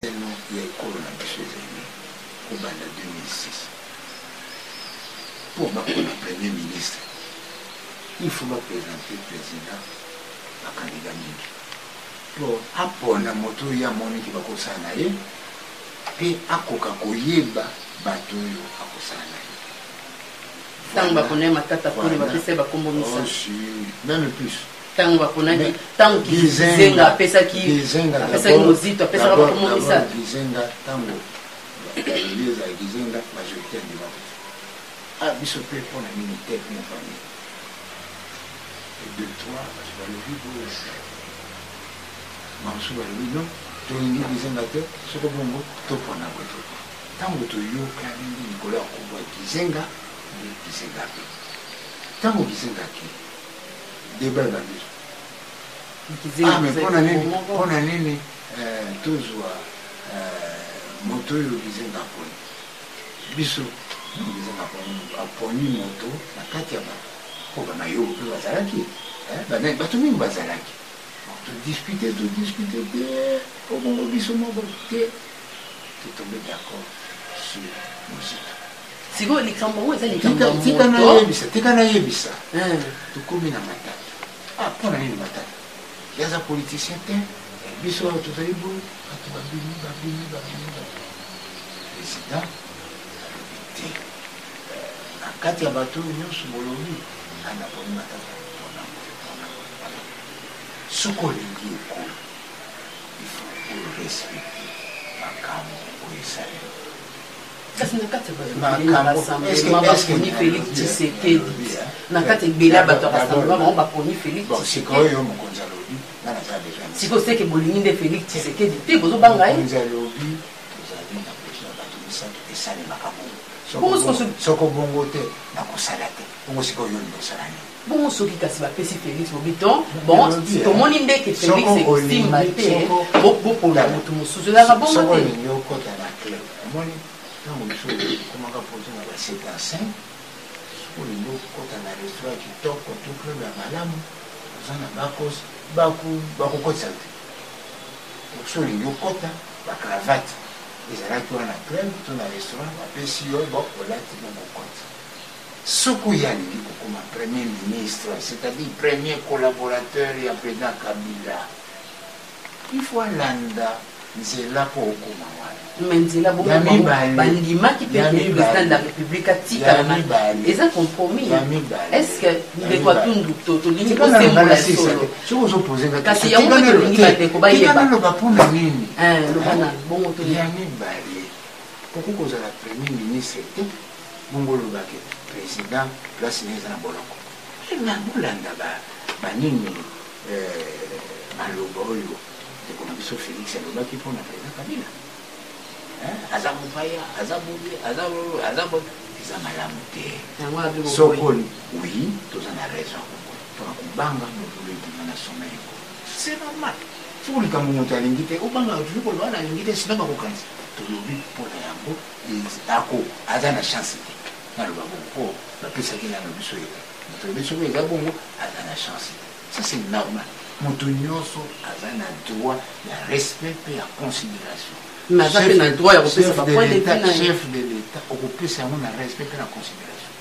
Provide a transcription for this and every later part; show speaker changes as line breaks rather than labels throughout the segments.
Lelo ya ekolo na biso ezali kobanda 2006 pour bakoma premier ministre il faut bapresente président bakandida mingi mpo apona moto oyo amoni ke bakosala na ye mpe akoka koyeba bato oyo akosala na ye
ntango baponai matata poni bapesa ye bakombo misa oh, meme plus
ntango baponaki
ntango kizenga apesaki apesaki mozito apesaka bakomo misato kizenga ntango
bakangi ezala kizenga majorité andima te a biso mpe mpo na nini te na famille et deux trois bato balobi boye bamosusu balobi non tolingi kizenga te soko bongo topona boye to ntango toyokani nde likolo ya kobo ya kizenga nde kizenga te ntango kizenga akei Debat ebandi. Ah mais pona nini pona nini euh, tozwa euh, moto oyo bizenga aponi biso bizenga aponi moto na kati ya bato mpo bamayobo mpe bazalaki eh, bato mingi bazalaki todiskute todiskute te obongo biso moko te totombe d'accord sur mozito sikoyo
likambo yango eza likambo ya tika moto nayebisa tika nayebisa
Eh, tokomi na matata ah, mpo na nini matata ye aza politicien te biso awa tozali boye bato babimi babimi babimi babimi. president alobi te na kati ya bato oyo nyonso bolobi ana poni matata mpona boye, mpona boye, mpona boye. soki olingi ekolo ifo orespecte makambo oyo esalemi
kasi na kati ya bato ebele na rassemblement baponi félix tshisekedi na kati ebele ya bato ya rassemblement bango baponi félix tshisekedi
sikoyo seke bolingi nde
félix tshisekedi te bozobanga ye
soko bongo te nakosala te bongo sikoyo yo lingi osala nini Bongo soki kasi
bapesi Felix Bobiton, bon tomoni nde ke Felix ekosimba te, bopona moto mosusu ezalaka bongo te. Olingi okota na
club, omoni ntango mosusu okomaka poto na ba 7 à 5, soki olingi okota na restaurant kitoko to club ya malamu, oza na bakos bakokotisa te. Soki olingi okota ba cravate ezalaki wana club to na restaurant bapesi yo, bon olati bongo okoti. Soko ye alingi kokoma premier ministre, c'est à dire premier collaborateur ya president Kabila, il faut alanda nzela mpo okoma wana. Mais nzela bongo Ya
bango mibale. bandimaki mpe Ya que mibale. president de la république Ya atikala na- mibale. eza compromis Ya mibale. est ce que Ya ndeko mibale. atundu to- tolingi Tika na kosembola ngai solo sisaka. Soki ozo poser ngai Kasi question, yango tika mpe na- tolingi te, bandeko bayeba. tika naloba mpo na
nini Eh, loba na bongo
to- ya mibale
okoki kozala premier ministre te Bongo oloba que president place naye eza na boloko eh mais bolanda ba ba nini eh maloba oyo ndeko na biso Felix alobaki mpo na president Kabila eh aza mopaya aza boye aza aza boye eza malamu te Yango wana bino soko bokoyi. oui toza na raison mpona kobanga mobulu ebima na sommet yango c'est normal soko likambo moto alingi te obangaka toujours koloba na alingi te sina bakokanisa tolobi mpo na yango ako aza na chance te naloba bongo po bapesaki nano biso ye moto lobi soki eza bongo aza na chance te ça c'est normal moto nyonso aza na droit ya respect mpe ya considération naza mpe na droit ya kopesa bapoint de vue na chef de l'état okopesa yango na respect mpe na considération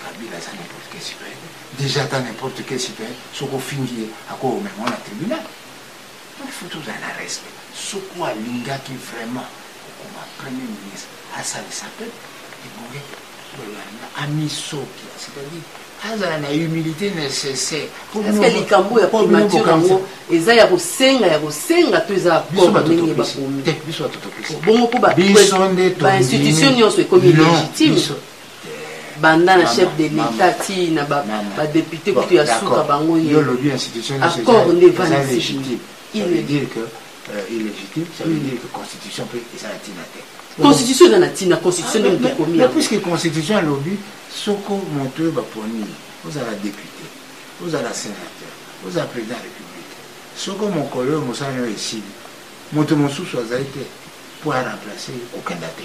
kabila aza n'importe quel citoyen déjà ata n'importe quel citoyen soki ofingi ye akoomema na tribunal Donc il faut tozala na respect. Soki alingaki vraiment kokoma premier ministre asalisa peuple ebonge bolanda amisoki c'est-à-dire azala na humilité nécessaire parceke likambo
ya primature yango eza ya kosenga ya kosenga to eza accord ndenge
bakomi bongo
mpo bainstitution nyonso ekomi légitime banda na chef de l'etat ti na ba, ba depute kutu ya suka bango ye accord nde
evanisi constitution eza na ntina constitution nde
moto ekomi puisque constitution
alobi soko moto oyo baponi ye ozala depute ozala sénateur ozala président ya république soko mokolo oyo mosala nayo esili moto mosusu azali te mpo aremplace ye kokenda te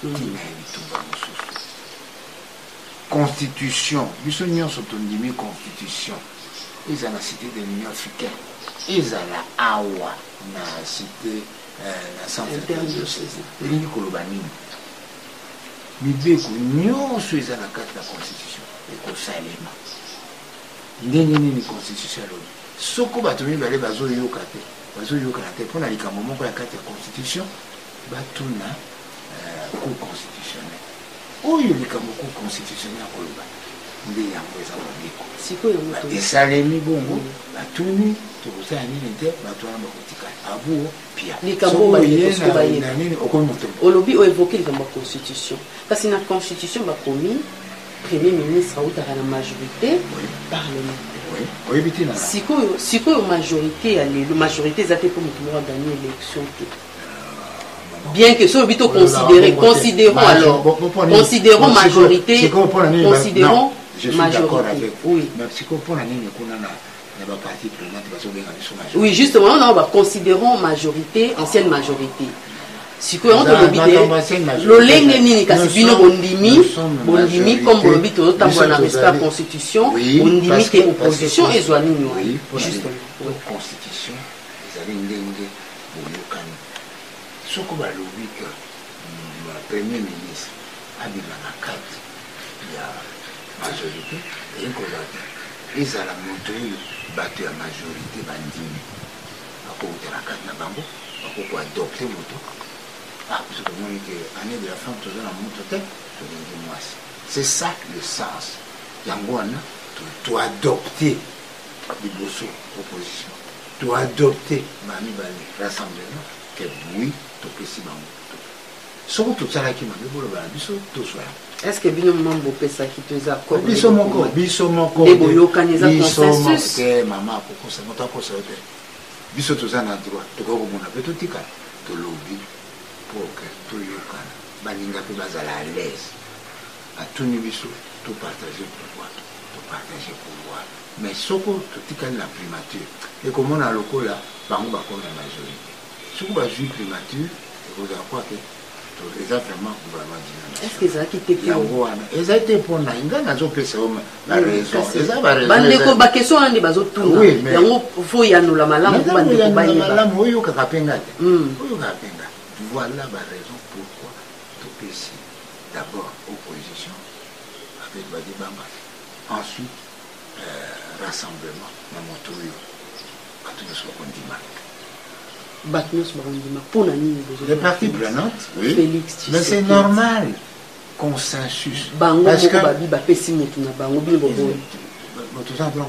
Tina ya bitumba mosusu. Constitution, biso nionso tondimi constitution ezala cite de l'Union africaine, ezala awa na cite eh, na centre elingi koloba nini? Mibeko nionso eza na kati ya constitution ekosalema ndenge nini? Constitution alobi soko bato mibale bazoyoka te bazoyokana te mpo na likambo moko ya kati ya constitution batuna euh, cour constitutionnel oyo likambo cour constitutionnel akoloba nde yango eza mobeko esalemi bongo mm. batuni tokosala nini te bato wana bakotikala abuo
pianini okomi moto olobi oevoke likambo ya constitution kasi na constitution bakomi premier ministre autaka na majorité parlementaire sikoyo majorité ya lelo majorité eza te mpo moto moko aganye élection te bien que soki bito considérer considérons alors considérons majorité considérons majorité oui mais sikoyo mpo na nini kuna na oui justement on va considérons majorité ancienne majorité sikoyo yango tolobi te lolenge nini kasi bino bondimi bondimi comme bolobi tozotambola na respect ya constitution bondimi te opposition ezwa nini
wana justement Boyokani. Soko balobi que Premier ministre abima na kati ya majorite, elingi koloba que ezala moto oyo bato ya majorite bandimi, bakouta na kati na bango, bakoki koadopte moto. Ah, parce que tomoni que année de la femme toza na moto te, tolingi mwasi. C'est ça le sens. Yango wana toadopte liboso proposition. To adopte ba mibale rassemblement que oui topesi bango soki tosalaki mabe
bolobala biso tozwa yango est ce que bino mama bopesaki to eza biso moko biso
moko nde
boyokani eza consensus te mama akokosa
moto akosa yo te biso toza na droit tokoki komona mpe totikala tolobi pour que toyokana baninga mpe bazala à l'aise atuni biso to partager pouvoir to partager pouvoir mais soko totikali na primature ekomona lokola bango bakomi na majorité soki bazwi primature ekozala kwake eza vraiment gouvernement
yango wana ezali te mpo na
ngai nazopesa yo baraison mm, eza
baraisobandeko bakestion wana nde bazotuna yango fo yanola malamu bandeko bayeba oyokaka mpe ngai
te mm. oyokaka mpe ngai voilà baraison Topesi d'abord opposition avec Badibanga, ensuite euh, rassemblement na moto oyo bato nyonso bakondima bato nyonso bakondima mpo na nini les parties prenantes oui. Félix mais c'est normal consensus bango moko babi bapesi motu na bango bino boboyi moto oza blanc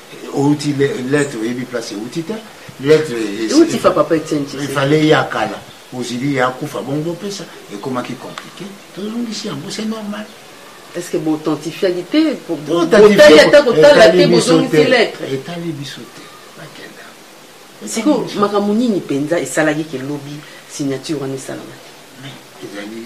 outi lettre oyebi place euti te lettre euti fa papa etienne il fallait ya kala ozili ya kufa bongo bopesa ekomaki compliqué tozongisi yango c'est normal est ce que
boauthentifiaki te botali ata
kotala te bozongisi lettre etali biso
te bakenda sikoyo makambo nini mpenza esalaki ke lobi signature wana esalama te ezali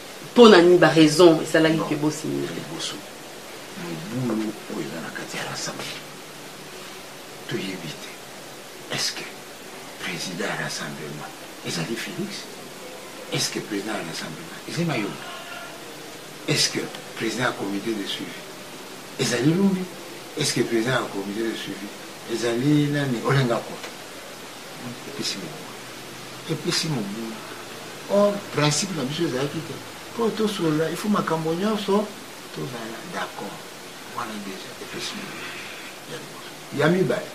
pona ni ba raison esalaki ke bo signer ya liboso
mobulu oyo eza na kati ya l'assemblée toyebi te est ce que président ya rassemblement ezali félix est ce que président ya rassemblement ezali mayombe est ce que président ya comité de suivi ezali lumbi est ce que président ya comité de suivi ezali nani olenga kua epesi mobulu epesi mobulu or principe na biso ezalaki te mpo tosolola ifo makambo nyonso tozala d'accord wana deja epesi mobulu ya liboso ya mibale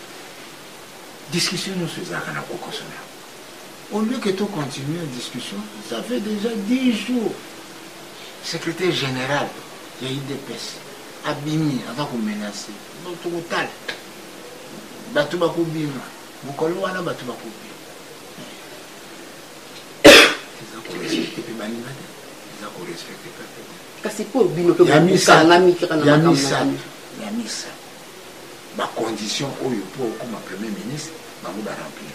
discussion nyonso ezalaka na kokoso na yango au lieu que to continue la discussion ça fait déjà 10 jours secrétaire général ya idps abimi aza komenase tokotala bato bakobima Mokolo wana bato bakobima eza korespecte mpe baninga
te eza korespecte pepe te kasi mpo bino mpe bokangami
kaka na makambo ya misa bacondition oyo mpo okoma premier ministre bango baremplir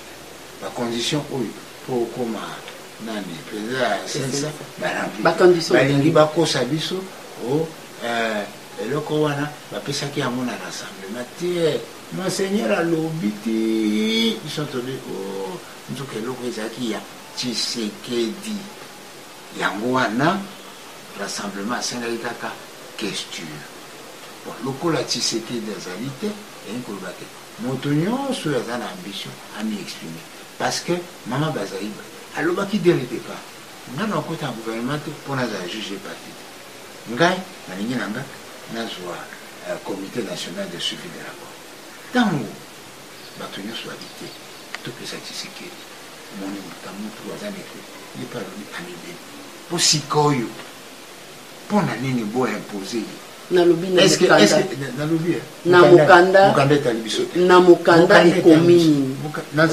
bacondition oyo mpo okoma nani mpenza ya sensa baremplir balingi
bakosa
biso o oh, eh, eloko wana bapesaki yango na rassemblement te Monseigneur alobi tii biso tobi ooh nzoka eloko ezalaki ya Tshisekedi yango wana rassemblement asengaki kaka questure bon lokola Tshisekedi azali te elingi koloba te moto nyonso oyo aza na ambition ami exprime parce que mama bazaiba alobaki dès le départ ngai nakota na gouvernement te mpo nazala juge parti te ngai nalingi na ngai nazwa ya Comite national de suivi de l'accord. Tango bato nyonso babi te, topesa Tshisekedi moni moto mutu aza neke ye mpe alobi amibeli. Mpo sikoyo mpo na nini bo impose ye nalobi na mokanda
mokanda etali biso te na mokanda ekomi nini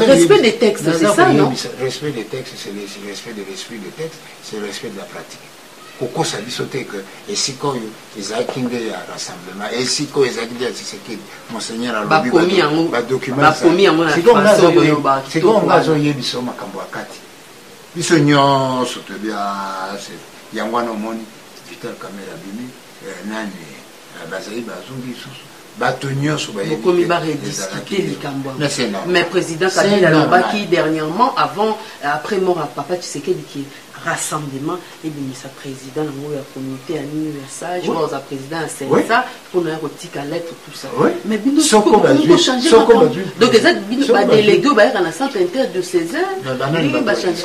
respect des textes c'est ça non respect des textes c'est
le respect de l'esprit de texte c'est le respect de la pratique Kokosa biso te que esika oyo ezalaki nde ya rassemblement, esika oyo ezalaki nde ya Tshisekedi. Monseigneur alobi ba documents ezali. Sikoyo nga azo yebisa, sikoyo nga azo yebisa yo makambo ya kati. Biso nionso toyebi ah c'est yango wana omoni Vital Kamerhe abimi eh, nani Ah, bazali bazongi lisusu bato nyonso bokomi barediscute
likambo yango mais président kabila alobaki dernièrement avant euh, après mort ya papa tshisekedi ke rassemblement ebimisa président yango ya comité ya nini ya sage oyo aza président ya sensa mpona ya kotika lettre tout ça mais bino bochange donc eza bino badélégué oyo bayaka na centre inter de césar bachange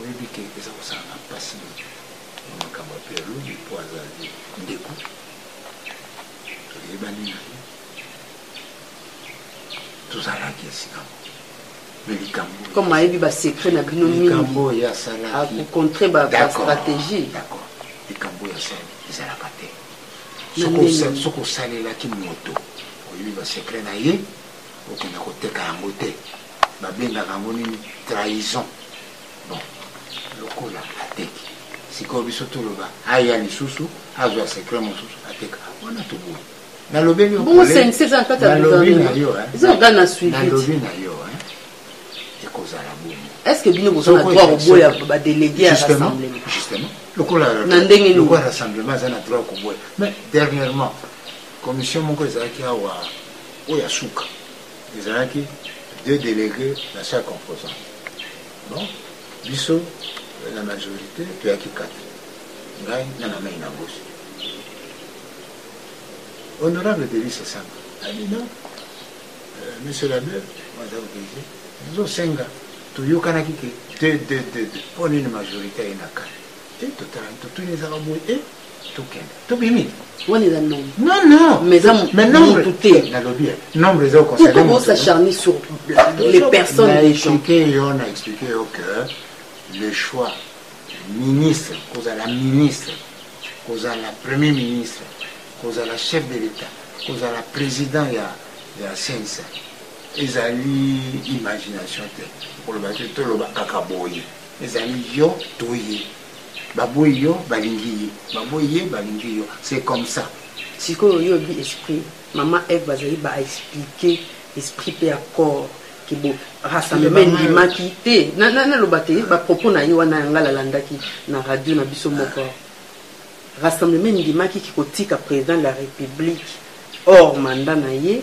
oyebi ke eza kosala na mpasi na makambo ya pelobi mpo azali ndeko toyebani na ye tozalaki esika
comme ayebi basecret na bino mingiakocontre bastratégie
likambo oyo asali ezalaka te soki osalelaki moto oyebi basecret na ye okenda koteka yango te babengaka yango nini trahison bon lokola ateki sikoyo biso toloba aya lisusu azwa secret mosusu ateka wana toboyi nalobi na yo ekozala
bongo est-ce que bino boza na droit koboya badelege ya rassemblement justement lokola
na ndenge lokola rassemblement aza na droit koboya mais dernièrement commission moko ezalaki awa oyo ya suka Ezalaki deux delegues na chaque composant. Bon, biso la majorité toyaki kati ngai na na mai na bosi honorable delise sanga abi non euh, monsieur labe waza oblige tozosenga toyokanaki ke te te te te mpo nini majorité aye na kati te totalani totuni ezaka boye e tokende tobimi wana
eza
nombre non non mais eza
mutu te nalobi nombre eza
oconcernepourquoi bo s'acharner sur
les personnes na explique yo
na explique yo que le choix ministre kozala ministre kozala premier ministre kozala chef de l'état kozala président ya ya sensa ezali imagination te okoloba te toloba kaka boye ezali yo toye baboyi yo balingi ye baboyi ye balingi yo c'est comme ça sikoyo yo oyebi
esprit mama eve bazali ba expliquer esprit mpe ya corps kibo rassemblement endimaki te naloba te bapropos na ye wana yanga lalandaki na radio na biso moko rassemblement endimaki kikotika président de la république hors mandat na ye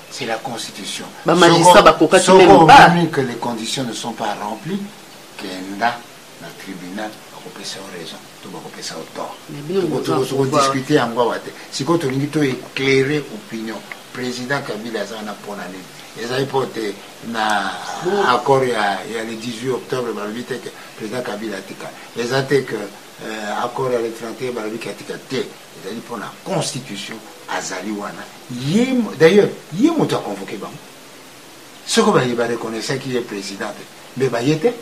C'est la constitution. Ba magistrats ba koka ki même pas. Soko que les conditions ne sont pas remplies, kenda na tribunal bakopesa yo raison to bakopesa yo tort. Tokodiskute yango awa te. Sikoyo tolingi to éclairer opinion. Président Kabila aza wana mpo na nini? Ezali mpo te na accord ya, ya le 18 octobre balobi te ke président Kabila atika. Eza te que euh, accord ya le 31 balobi ke atika te. ezali mpo na constitution azali wana ye d'ailleurs ye moto aconvoke bango soko baye bareconnaissaki ye président te mbe baye te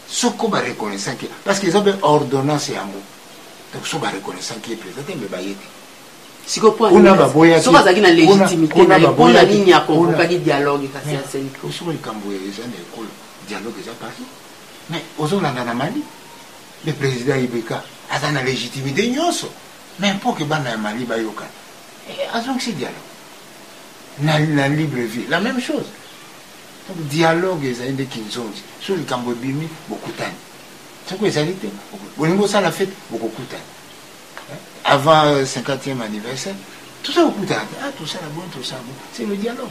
soko bareconnaissaki ye parce que eza mpe ordonnance yango donc so bareconnaissaki ye président te mbe baye te
kuna baboyakikuna baboyakisoko likambo eza na ekolo
dialogue eza parti mais ozolanda na mali Le president IBK aza na legitimite nyonso mais mpo ke bana ya Mali bayokana eh, azongisi dialogue na, na libre vie la même chose donc dialogue ezali nde kinzonzi soki likambo ebimi bokutani soki ezali te bolingi osala fete bokokutana eh, avant 50e euh, anniversaire toza kokutana te ah tosala boni tosala boni c'est le dialogue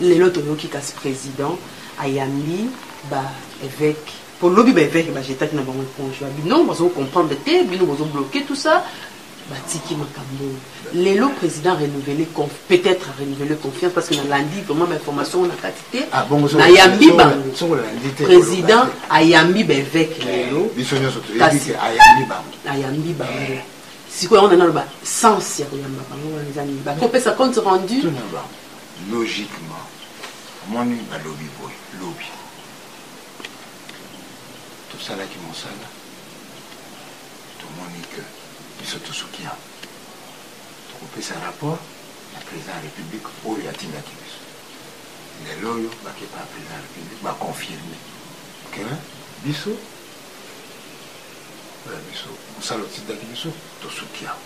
lelo toyoki kasi président ayambi baevêque Po lobi ba eveque ba jetaki na bango eponge ba bino bazo comprendre te bino bozo bloquer tout ça ba tiki makambo oyo lelo president renouveler conf peut être renouveler confiance parce que na landi vraiment ba information na kati te ah, na yambi ba president ayambi ba eveque eh, lelo biso nyoso to kasi ayambi ba ayambi ba eh. sikoyo yango naloba sens ya koyamba bango wana eza nini bakopesa compte rendu
logiquement omoni balobi boye lobi tosalaki mosala tomoni ke biso tosuki yango tokopesa rapport na président ya république oyo atindaki biso lelo oyo bakepa ya président ya république baconfirme ke biso biso mosala otindaki biso tosuki yango